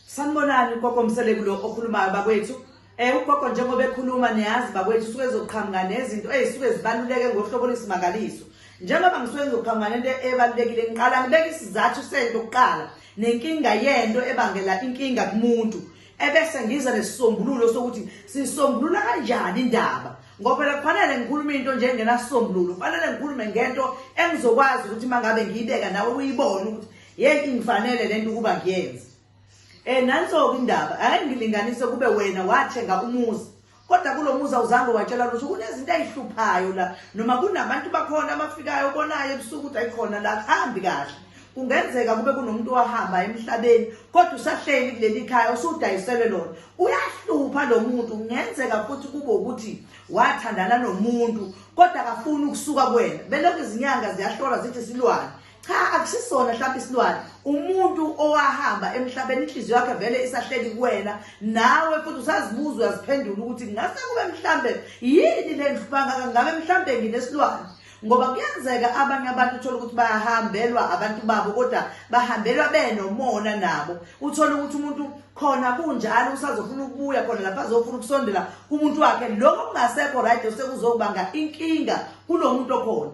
Sanibonani ugogo Mseleku lo okhulumayo bakwethu. Eh ugogo njengoba ekhuluma niyazi bakwethu usuke ezoqhamuka nezinto ezisuke zibaluleke ngohlobo lwesimangaliso. Njengoba ngisuke ngizoqhamuka nento ebalulekile ngiqala ngibeka isizathu sento kuqala nenkinga yento ebangela inkinga kumuntu ebese ngiza nesisombululo sokuthi sisombulula kanjani indaba ngoba phela kufanele ngikhulume into nje engenasombululo kufanele ngikhulume ngento engizokwazi ukuthi mangabe ngiyibeka nawe uyibone ukuthi Yey ingifanele lento ukuba ngiyenze. Eh nanso indaba, ake ngilinganise kube wena wathenga umuzi. Kodwa kulomuzi awuzange watshela lutho kunezinto ezihluphayo la noma kunabantu bakhona abafikayo obonayo ebusuku ukuthi ayikhona la hambi kahle. Kungenzeka kube kunomuntu wahamba emhlabeni kodwa usahleli kuleli khaya usudayiselwe lona. Uyahlupha lo muntu kungenzeka futhi kube ukuthi wathandana nomuntu kodwa akafuni ukusuka kwena. Belokhu izinyanga ziyahlola zithi silwane. cha akusisona mhlawumbe isilwane umuntu owahamba emhlabeni inhliziyo yakhe vele isahleli kuwena nawe futhi usazibuza uyaziphendula ukuthi ngase kube mhlambe yini le nhlubangaka ngabe mhlambe nginesilwane ngoba kuyenzeka abanye abantu uthola ukuthi bayahambe-lwa abantu babo kodwa bahambelwa benomona nabo uthola ukuthi umuntu khona kunjalo usazofuna ukubuya khona lapha azofuna ukusondela kumuntu wakhe lokho kungasekho right osekuzokubanga inkinga kulo muntu okhona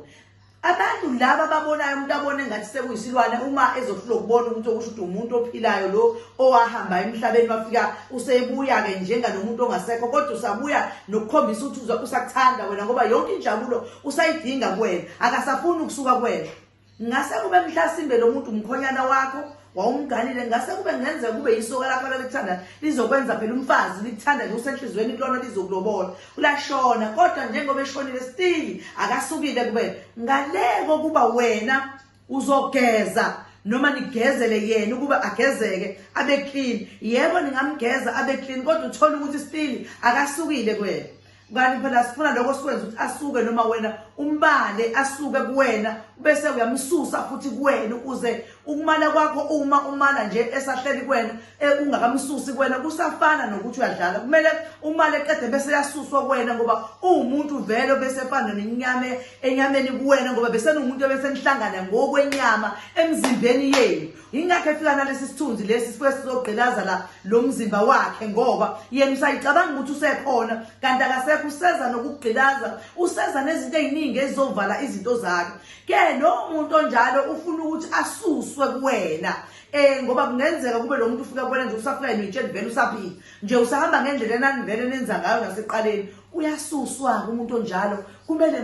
abantu laba babonayo umuntu abone ngathi sekuyisilwane uma ezohlula ukubona umuntu okusho ukuthi umuntu ophilayo lo owahamba emhlabeni wafika usebuya-ke njenganomuntu ongasekho kodwa usabuya nokukhombisa ukuthi usakuthanda wena ngoba yonke injabulo usayidinga kuwena akasafuni ukusuka kuwena ngase kube mhlasimbe lo muntu umkhonyana wakho wawumganile ngase kube ngenzeka kube yisoka lakho lalikuthanda lizokwenza phela umfazi likuthanda nje usenhliziyweni kulona lizokulobola ulashona kodwa njengoba eshonile stili akasukile kube ngaleko kuba wena uzogeza noma nigezele yena ukuba agezeke abe clean yebo ningamgeza abe clean kodwa uthola ukuthi still akasukile kwena kanti phela sifuna lokho sikwenza ukuthi asuke noma wena umbale asuke kuwena bese uyamsusa futhi kuwena ukuze ukumala kwakho uma umala nje esahleli kuwena eh, ungakamsusi kuwena kusafana nokuthi uyadlala kumele umale eqede bese yasuswa kuwena ngoba uwumuntu vele bese efana nenyame enyameni kuwena ngoba besenomuntu ebesenihlangana ngokwenyama emzimbeni yenu yingakho efika nalesi sithunzi lesi sifuke sizogqilaza la lo mzimba wakhe ngoba yena usayicabanga ukuthi usekhona kanti akasekho useza nokugqilaza useza nezinto ey'ningi ezizovala izinto zakhe ke lowo muntu onjalo ufuna ukuthi asuswe kuwena eh ngoba kungenzeka kube lo muntu ufika kubona nje usafika yena uyitshela vele usaphila nje usahamba ngendlela enanivele nenza ngayo naseqaleni uyasuswa-ke umuntu onjalo kumele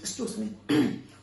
excuse me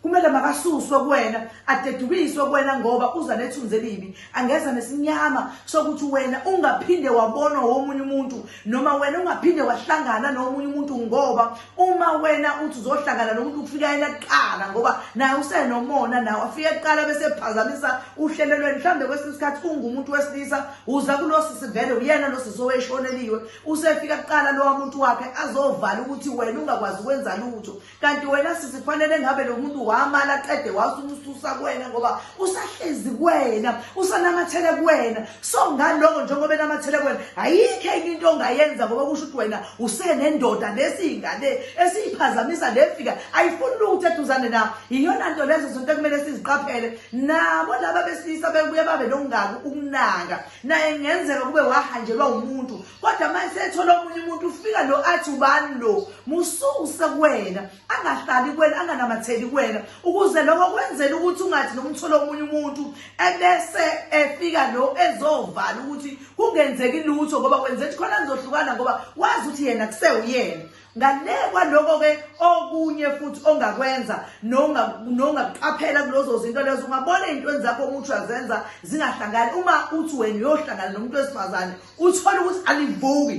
kumele makasuswe kuwena adedukiswe kuwena ngoba uza nethunzi elibi angeza nesinyama sokuthi wena ungaphinde wabonwa womunye umuntu noma wena ungaphinde wahlangana nomunye umuntu ngoba uma wena uthi uzohlangana nomuntu kufika yena kuqala ngoba naye usenomona nawe afike kuqala bese phazamisa uhlelo lweni mhlawumbe kwesinye isikhathi ungumuntu wesilisa uza kulosisi vele uyena losisi oweshoneliwe usefika kuqala lowa muntu wakhe azovala ukuthi wena ungakwazi ukwenza lutho kanti wena sisi kufanele ngabe lo muntu wamala qede wasumususa kuwena ngoba usahlezi kuwena usanamathele kuwena so ngaloko njengoba enamathele kuwena ayikho enye into ongayenza ngoba kusho ukuthi wena usenendoda lesiyingane esiyiphazamisa lefika ayifuni lutho eduzane na yiyona nto lezo zinto ekumele siziqaphele nabo laba besilisa bebuye babe nokungaki ukunaka naye kungenzeka kube wahanjelwa umuntu kodwa manje sethola omunye umuntu ufika lo athi ubani lo mususe kuwena angahlali kuwena anganamatheli kuwena ukuze lokho kwenzela ukuthi ungathi nomthola omunye umuntu ebese efika lo ezovala ukuthi kungenzeki lutho ngoba kwenza ukuthi khona nizohlukana ngoba wazi ukuthi yena kusewuyena ngale kwaloko-ke okunye futhi ongakwenza nongakuqaphela kulozo zinto lezo ungabona ey'ntweni zakho omuthi uyazenza zingahlangani uma uthi wena uyohlangana nomuntu wesifazane uthole ukuthi alivuki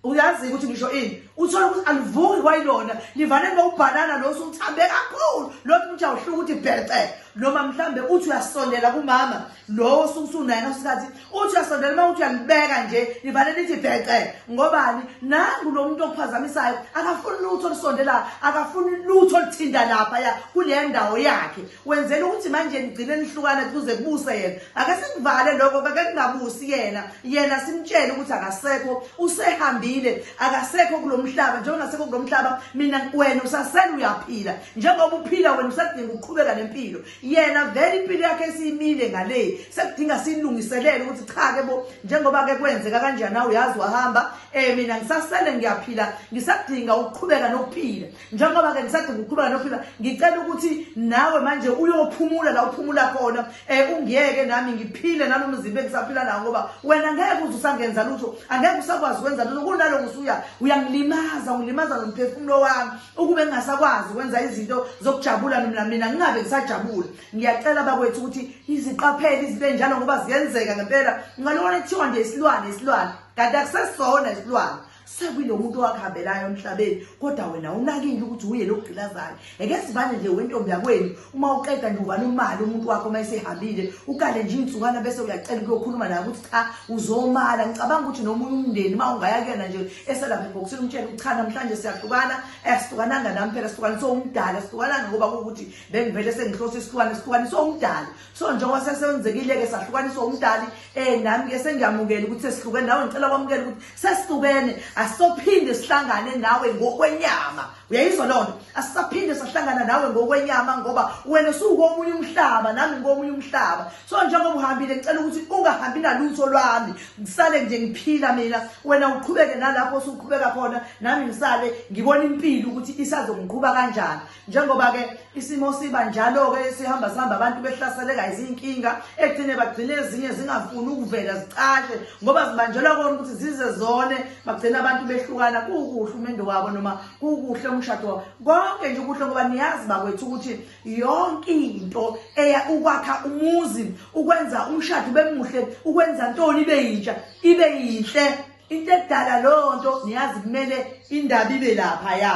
uyazi-ke ukuthi ngisho ini uthole ukuthi alivuki kwayilona livane ngokubhanana losu uthambe kakhulu lokhu ukuthi awuhluka ukuthi bhece noma mhlawumbe uthi uyasondela kumama lowo osuke usunaye ngasikhathi uthi uyasondela uma uthi uyalibeka nje livale lithi bhece ngobani nangu lo muntu okuphazamisayo akafuni lutho olusondelayo akafuni lutho oluthinta lapha ya kule ndawo yakhe wenzela ukuthi manje nigcine nihlukane kuze kubuse yena ake sikuvale lokho kake kungabusi yena yena simtshele ukuthi akasekho usehambile akasekho kulo mhlaba njengoba ngasekho kulo mhlaba mina wena usasele uyaphila njengoba uphila wena usadinga ukuqhubeka nempilo yena vele impilo yakhe esiyimile ngale sekudinga silungiselele ukuthi cha ke bo njengoba ke kwenzeka kanjani awu yazi wahamba eh mina ngisasele ngiyaphila ngisadinga ukuqhubeka nokuphila njengoba ke ngisadinga ukuqhubeka nokuphila ngicela ukuthi nawe manje uyophumula la uphumula khona eh ungiyeke nami ngiphile nalo mzimba engisaphila nawo ngoba wena ngeke uze usangenza lutho angeke usakwazi ukwenza lutho kunalo ngusuya uyangilimaza ungilimaza nomphefumulo wami ukube ngingasakwazi ukwenza izinto zokujabula mina mina ngingabe ngisajabula ngiyacela bakwethu ukuthi iziqaphele izinto enjalo ngoba ziyenzeka ngempela ngalona kuthiwa nje isilwane isilwane kanti akusesona isilwane sekulo muntu owakubambelayo emhlabeni kodwa wena unakile ukuthi uye lokugqilazayo eke sivane nje wentombi yakwenu uma uqeda nje uvala imali umuntu wakho uma esehambile ukale nje insukana bese uyacela ukuyokhuluma naye ukuthi cha uzomala ngicabanga ukuthi nomunye umndeni uma ungaya kuyena nje eselapha ebhokisini umtshela ukuthi cha namhlanje siyahlukana asihlukananga eh, nami phela sihlukane sowumdala sihlukananga ngoba kuwukuthi bengivele sengihlose isihlukane sihlukane sowumdala so njengoba sesenzekile-ke sahlukaniswa umdali um eh, nami-ke sengiyamukela ukuthi sesihlukene nawe ngicela kwamukela ukuthi sesihlukene asophinde sihlangane nawe ngokwenyama uyayizwa loo nto asisaphinde sahlangana nawe ngokwenyama ngoba wena usukomunye umhlaba nami ngikomunye umhlaba so njengoba uhambile ngicela ukuthi ungahambi nalutho lwami ngisale nje ngiphila mina wena uqhubeke nalapho usuqhubeka khona nami ngisale ngibona impilo ukuthi isazongiqhuba kanjani njengoba-ke isimo siba njalo-ke sihamba sihamba abantu behlaseleka izinkinga ekugcine bagcine ezinye zingafuni ukuvela zicashe ngoba zibanjelwa kona ukuthi zize zone bagcine abantu behlukana kuwukuhle umendo wabo noma kuwukuhle umshado wabo konke nje ukuhle ngoba niyazi bakwethu ukuthi yonke into eya ukwakha umuzi ukwenza umshado ube muhle ukwenza ntoni ibe yintsha ibe yinhle into edala loo nto niyazi kumele indaba ibe lapha ya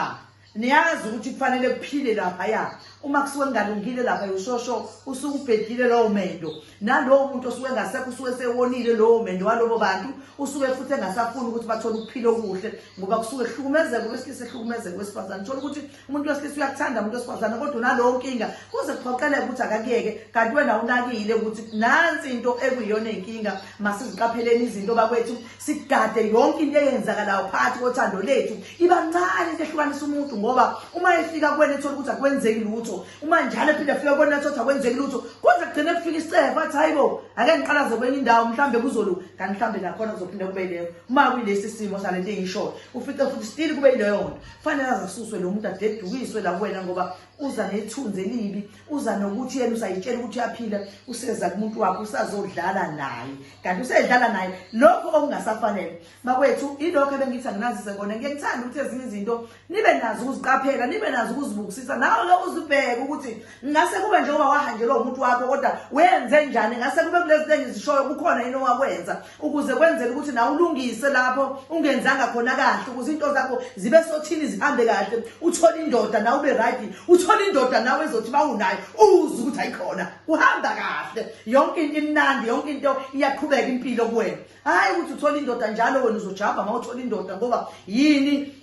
niyazi ukuthi kufanele kuphile lapha ya uma kusuke kungalungile lapha ushosho usuke ubhedile lowo mendo nalowo muntu osuke engasekho usuke sewonile lowo mendo walobo bantu usuke futhi engasafuni ukuthi bathole ukuphila okuhle ngoba kusuke kuhlukumezeka kwesilisa ehlukumezeka kwesifazane thola ukuthi umuntu wesilisa uyakuthanda umuntu wesifazane kodwa unalowo nkinga kuze kuphoqeleke ukuthi akakuyeke kanti wena unakile ukuthi nansi into ekuyiyona inkinga masiziqapheleni izinto bakwethu sigade yonke into eyenzakalayo phakathi kothando lethu iba ncane into ehlukanisa umuntu ngoba uma efika kuwena ethola ukuthi akwenzeki lutho uma njalo ephinde afika kuwena ethola ukuthi akwenzeki lutho kuze kugcine kufika isicefo athi hayi bo ake ngiqalaze kwenye indawo mhlawumbe kuzolu kanti mhlawumbe nakhona kuzophinde kube yileyo uma kuyilesi simo sale nto engiyishoyo ufice futhi stili kube yileyo nto kufanele azasuswe lo muntu adedukiswe la kuwena ngoba uza nethunzi elibi uza nokuthi yena usayitshela ukuthi uyaphila useza kumuntu wakho usazodlala naye kanti usedlala naye lokho okungasafanele bakwethu ilokho ebengithi anginazise kona ngike ngithanda ukuthi ezinye izinto nibe nazo ukuziqaphela nibe nazo ukuzibukisisa nawe ke uzibheke ukuthi ngase kube njengoba wahanjelwa umuntu wakho kodwa wenze njani ngase kube kulezi zinto engizishoyo kukhona yini owakwenza ukuze kwenzeke ukuthi nawe ulungise lapho ungenzanga khona kahle ukuze into zakho zibe sothini zihambe kahle uthole indoda nawe ube right uthole indoda nawe ezothi bawunayo uze ukuthi ayikhona uhamba kahle yonke into imnandi yonke into iyaqhubeka impilo kuwena hayi ukuthi uthole indoda njalo wena uzojabha uma uthole indoda ngoba yini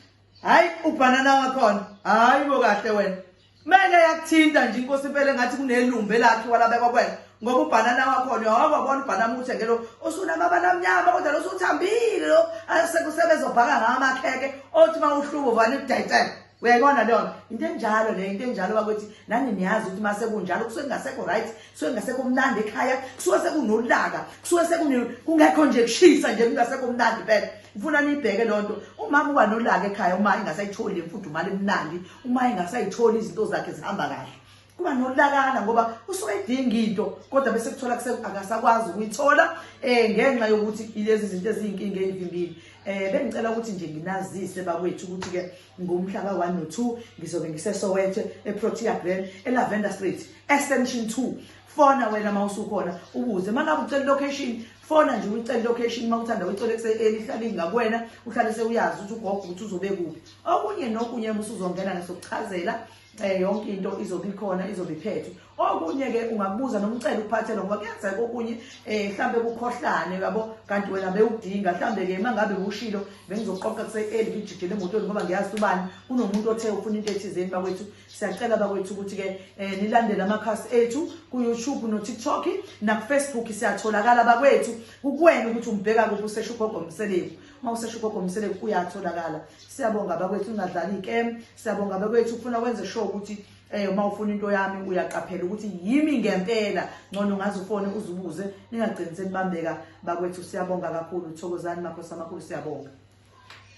hayi ubhanana wakhona hayi bo kahle wena kumele yakuthinta nje inkosi impela engathi kunelumbe lakhe walabekwa kwena ngoba ubhanana wakhona yehova bona ubhanana uthenge lo usunamabala amnyama kodwa lo usuthambile lo asekusebenza obhaka ngawo amakheke othi uma uhlubo vane kudayitela uyayibona leyo nto into enjalo leyo into enjalo bakuthi nani niyazi ukuthi uma sekunjalo kusuke kungasekho right kusuke ngasekho mnandi ekhaya kusuke sekunolaka kusuke sekungekho nje kushisa nje kungasekho mnandi phela ngifuna niyibheke loo nto umama uba nolaka ekhaya uma engasayitholi le mfudumali emnandi uma engasayitholi izinto zakhe zihamba kahle kuba nolakana ngoba usuke edinga into kodwa bese kuthola akasakwazi ukuyithola um ngenxa yokuthi ilezi zinto eziyinkinga eyivimbile um bengicela ukuthi nje nginazise bakwethu ukuthi-ke ngomhla ka-1 no-2 ngizobe ngisesoweto eprotea grand elavender street extension 2 fona wena uma usukhona ubuze uma ngabe ucela ilocation fona nje uyicela ilocation uma uthanda uyicela elihlale ingakwena uhlale sewuyazi ukuthi ugogo ukuthi uzobe kuphi okunye nokunye uma usuzongena ngesokuchazela um yonke into izobe ikhona izobe iphethwe okunye-ke ungakubuza nomcela ukuphathelwa ngoba kuyenzeka okunye um eh, mhlawumbe kukhohlane yabo kanti wena bewudinga mhlawumbe-ke uma ngabe ushilo bengizoqoqa kuse-eli ngijijele emotweni ngoba ngiyazi ubani kunomuntu othe ufuna into ethizeni bakwethu siyacela bakwethu ukuthi-ke um nilandele amakhasi ethu ku-youtube no-tiktok nakufacebook siyatholakala bakwethu kukwena ukuthi umbheka kuphi usesho ugogo mseleku uma usesho ugogo mseleku uyatholakala siyabonga bakwethu ungadlali ikem siyabonga bakwethu ufuna wenze sure ukuthi eh uma ufuna into yami uyaqaphela ukuthi yimi ngempela ngcono ngazi ufone uzubuze ningagcini senibambeka bakwethu siyabonga kakhulu thokozani makhosi amakhulu siyabonga